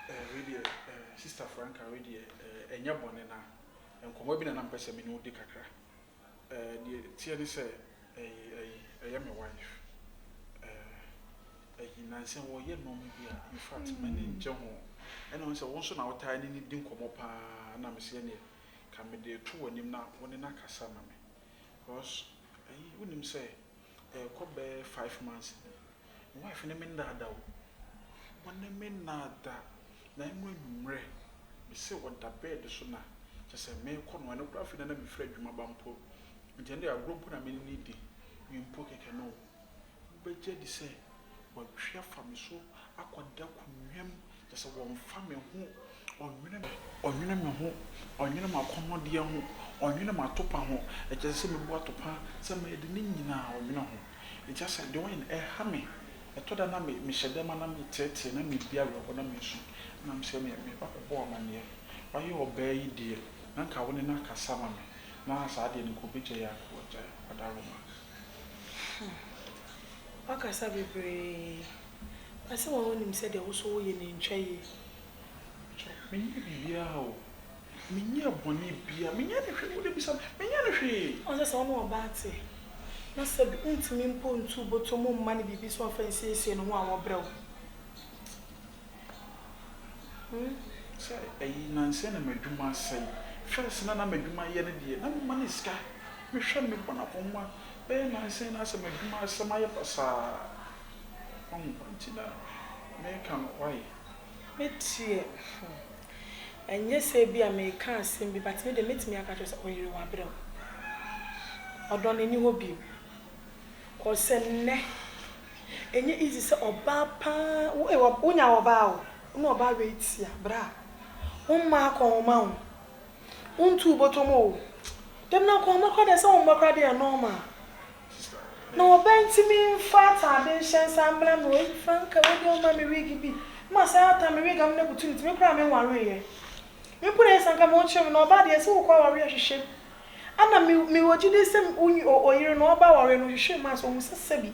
Eh, wei deɛ, eh, Sister Franca, wei deɛ, eh, ɛnyɛ bɔne na nkɔmmɔ bi na na mepɛ sɛ me ne wo di kakra. Eh, deɛ ɛteɛ ne sɛ, ɛyi, ɛyi, ɛyɛ me wife. Eh, ɛyi, nnansa ɔreyɛ nnoɔma bi a, in fact, m'ani nnye ho. Ɛna ɔhu sɛ wo nso na wotaa ne no di nkɔmmɔ pa ara, na mese ɛnneɛ, ka mede to w'anim na wo ne no akasa ma me. Because, ɛyi, wonim sɛ, Ɛrekɔ bɛyɛ five months ni. Me wife ne me nnaa da o. Ɔne me nnaa da. Na ɛno anwummerɛ, me se ɔda bed so na kyerɛ sɛ merekɔ no. Ɛno koraa afei na na mefiri adwuma aba mpo. Nti ɛnde agorɔ mpo na me ne no redi. Me mpo kɛkɛ no o. Wobɛgye adi sɛ watwi afa me so akɔda akonnwa mu Kyerɛ sɛ, wɔmfa me ho, wɔnnwene me, wɔnnwene me ho, wɔnnwene m'akɔnnɔdeɛ ho, wɔnnwene m'atopa ho, kyerɛ sɛ, sɛ mebu atopa, sɛ mɛyɛ dɛn, ne nyina ara wɔnnwene ho. Nti kyerɛ sɛ, deɛ wɔyɛ no, ɛha me. Ɛtɔ da a na me, mehyɛ dɛm a na meteetee, na medi awerɛhoɔ, na mesu. Na mesrɛ me, me ba kɔbɔɔ amanneɛ. Wayɛ ɔbaa yi deɛ, na nka wo ne no akasa ama me, na saa deɛ no nka ɔbɛgyae a, nka wagyae. Ɔda Roma. Hmm. Woakasa bebree. Ba sɛ wɔn a wonim sɛ deɛ wo so woyɛ no ntwa yie kyɛ. Menyɛɛ biribiara o. Menyɛɛ bɔne biara. Menyɛɛ no hwee. Wode bisa me. Menyɛɛ no hwee. Wohu sɛ sɛ wo ne ɔbaa te, na sɛ bi wontumi mpo ntu wo bɔtɔ mu mma no biribi sɛ ɔmfa nsiesie ne ho a, wɔbrɛ wo. Hmm. Sɛ ɛyi nansa yi na m'adwuma asɛe. First na na m'adwuma yɛ no deɛ, na mema no sika. Mehwɛ no, mebɔ no akɔnma. Bɛyɛ nansa yi na asɛ m'adwuma asɛe, mayɛ basaa. Wahu nti na mereka no why? Me deɛ hmm ɛnyɛ sɛ ebia mereka asɛm bi but me deɛ mɛtumi aka akyerɛ wo sɛ ɔyere wabrɛ wo. Ɔdɔ no ɛnni hɔ bio cause sɛ nnɛ ɛnyɛ easy sɛ ɔbaa paa wo ee wonya ɔbaa o, wo ne ɔbaa wei te a bra wo mma akɔnhoma wo Wo ntu wo bɔtɔ mu oo. Dɛm na nko mɛkora deɛ sɛ wo mma kora deɛ nɔɔma. Na ɔbaa nti me nfa ataade nhyɛ nsa mmra me hɔ. Franka wei deɛ ɔmma me wig bi. Ma saa ata me wig amena butu ne ti. Me koraa me nwareeɛ. Me mpo deɛ sɛ anka me ɔkyerɛ me na ɔbaa deɛ sɛ wo kɔ awareɛ hwehwɛ mu. Ana me me wɔ gyidie sɛ wo nyi ɔyere no ɔba awareɛ no hwehwɛ mu a sɛ ɔhu sɛ sɛbi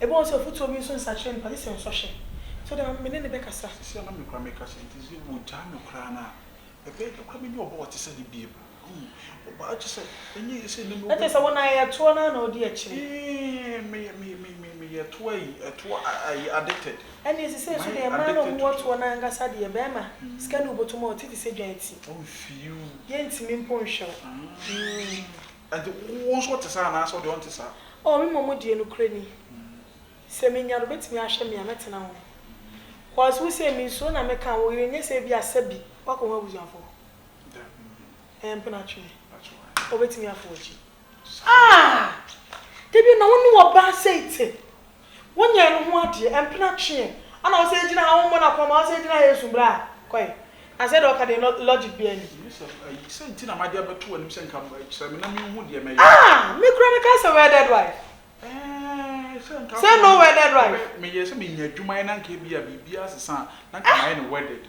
Ebɛn sɛ ɔfotuo bi nso nsakyerɛ nipa gye sɛ nsɔhwɛ. So deɛ me ne no bɛkasa? Seesei a na me koraa meka sɛ nti sɛ wɔgyaa me koraa no a, ɛbɛyɛ dɛ koraa mɛnya ɔba a ɔte sɛ no bio. Wohu? Ɔbaa gye sɛ ɛnyɛ yɛ sɛ na me wɔ. Na kyerɛ sɛ wo na ɛyɛ toɔ no ara na ɔdi akyire. Ee, meyɛ, meyɛ, meyɛ, meyɛ, meyɛ toɔ ayi, toɔ a, ayi, addicted. Ɛnneɛ seesei nso deɛ, mmaa na wɔwɔ toɔ no ara ankasa deɛ, barima, sika na ɔbɔtɔ mu a ɔte te sɛ dwan ti. Ɔmfii wo. Yɛntumi mpo nhwɛ wo. Aah. Mm. Ɛnti wo nso wote saa anaasɛ wo deɛ wonte saa? Oh me mmom deɛ nokorɛ ni sɛ menya no bɛtumi ahwɛ me a mɛtena ho cos wo sei mensuro na meka wo yere nyɛ sɛ ebia sɛbi woakɔ ho abusuafoɔ hɔ ɛɛ mpenatwee ɔbɛtumi afo w'akyi ah dabi na wo ne wɔ baa sei te Wonyɛɛ no ho adeɛ, ɛmpena tweɛ, ana ɔsɛ ɛgyina ha, wommɔ no akwamma, ɔsɛ ɛgyina ha ɛsum bra a, kɔe. Asɛ deɛ ɔka deɛ logic biaa nni. Yosef, ayi, sɛ nti na made abɛto w'anim sɛ nka kyerɛ me na menhu deɛ mɛyɛ. Ah! Me kura mekae sɛ wedded wife. Eeh, sɛ nka afei Sɛ no wedded wife. meyɛɛ sɛ menya adwuma yɛ na nka ebia biribiaa asesa a, na nka mayɛ no wedded.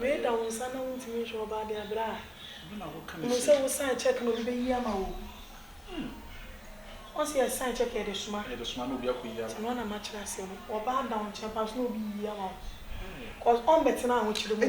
Reda wo nsa na wontumi nhwɛ ɔba ade a bra Hu no sɛ wo sign check na obi bɛyi ama wo Ɔse yɛ sign check yɛde soma Nti no na makyerɛ aseɛ no Ɔba ada wo nkyɛn paa so na obi yi ama wo Cause ɔmmɛtena ahokyere mu o.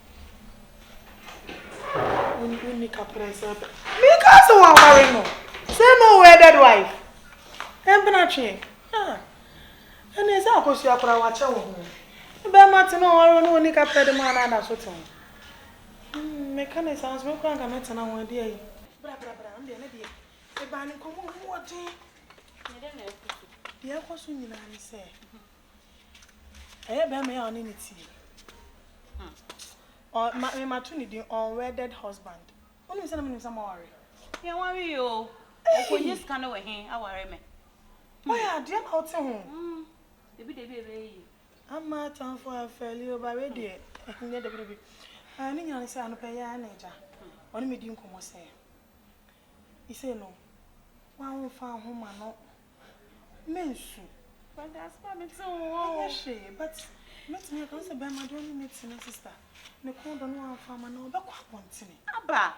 Mekaa sɛ wɔaware no sɛ no wedded wife Mpenatwe ah ɛne ɛsɛ akosua koraa wakyɛ wo ho Ne bɛɛma te no ɔware wo no ɔni kaprɛ de maa no ada so te ho Meka ne saa nso me koraa nka mɛtena ho ɛdeɛ yi bra bra bra me deɛ ne deɛ Mebaa ne nkɔmmɔ mu ɔden Deɛ ɛkɔ so nyinaa ne sɛ Ɛyɛ bɛrima yi a ɔne no teɛ yi. Hm. Ɔ, ma, me mato ne din unwedded husband. Wonim sɛ na menim sɛ moaware? Yɛnware yi o. Ɔkɔnya sika no wɔ he? Aware me. Hmm. Woayɛ adeɛ na wote ho. Hmm. Dabi dabi ɛbɛyɛ yie. Ama atamfo afɛli o, ba wei deɛ, ɛnyɛ dabi dabi. Ah, ne nyina ne sɛ anɔpa yi ara na agya, ɔne me di nkɔmmɔ sɛ, isei no, woa womfa nhoma no Mensu. But asma me te wo hɔ o. Ɛnyɛ hwee but mɛtumi aka sɛ bɛrima deɛ ɔne ne tena sister. Ne kɔn dɔ no wamfa ama no ɔbɛkɔ abɔntene. Aba!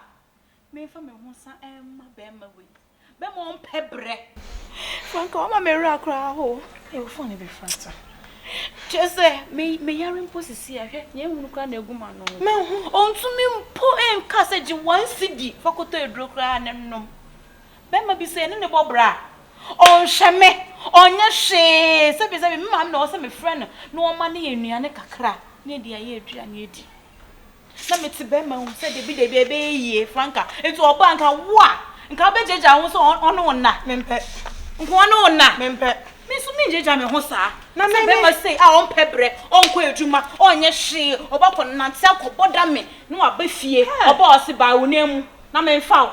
Menfa me ho sa ɛmma bɛrima wei. Bɛrima ɔmpɛ brɛ. Wanka wama me wura koraa ho. Ee wo phone bɛ frata. Kyerɛ sɛ me me yare mpo sisi a hwɛ nea ehunu koraa na egu ma no. Menhu. Ɔntumi mpo nka sɛ gye one cedi fa kɔtɔ aduro koraa ne nom. Barima bi sɛ yɛne no bɔ bra a, ɔnhwɛ me, ɔnyɛ hwee. Sɛbesɛbe, me maame na ɔwɔ sɛ mefrɛ no na ɔma no yɛn nnuane kakra na yɛde ayɛ aduane adi. Na mete barima ho sɛ dabi dabi ɛbɛyɛ yie, Franca. Nti ɔba a, nka wo a, nka wobɛgyagya wo ho sɛ ɔne wo nna. Mempɛ. Nka ɔne wo nna. Mempɛ. Me nso mengyagya me ho saa. Na me, me. Sɛ barima sei a ɔmpɛ brɛ, ɔnkɔ adwuma, ɔnyɛ hwee, ɔba kɔnante akɔbɔ dame na waba fie, ɔba a ɔse baa wo nan mu na memfa wo.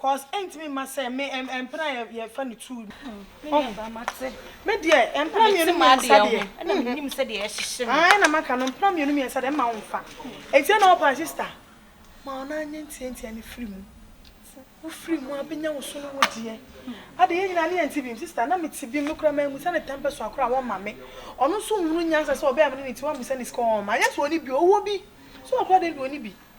cause ɛntumi mma sɛ me ɛmpena yɛ yɛfa no two no me nua baa mate me deɛ ɛmpena mmienu mmiɛnsa deɛ ɛna me nim sɛ deɛ ɛhyehye me ae na maka no mpena mmienu mmiɛnsa deɛ mma wo nfa ɛti ɛna ɔpa sister ma ɔna nyɛ ntia ntia ne firi mu wo firi mu abɛnya wo so no wo deɛ ade yɛ nyina ne yɛ nti bim sister na me ti bim no kora ma amusa ne tɛmpɛ so akora wɔn ma me ɔno nso nhunu nyansa sɛ ɔbɛyɛ amene ne ti wɔn amusa ne sika wɔn ma yɛ so ɔne bi owó bi so ɔkora deɛ bi ɔne bi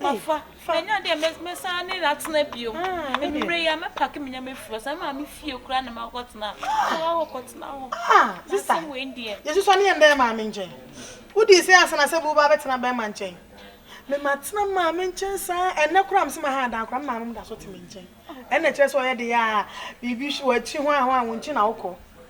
Mafa. Manya deɛ mɛsan ne atena bio. Anwummerɛ yi a mɛpake me nneɛma afiri hɔ. Sɛ maame fie koraa na makɔtena. Kɔa hɔ kɔtena hɔ. Ah, sista. Asɛm wei deɛ. Yesu sɔ ne yɛn dɛn maame nkyɛn. Wodii sɛ ansa na sɛ bi wobaa bɛtena bɛrima nkyɛn. Me matena maame nkyɛn saa. Ɛnnɛ koraa mese maha adan koraa me maame no da so te me nkyɛn. Ɛnna ɛkyerɛ sɛ ɔyɛ de yɛ a biribi hwe w'akyi ho a ho a wo nkyi na wokɔ.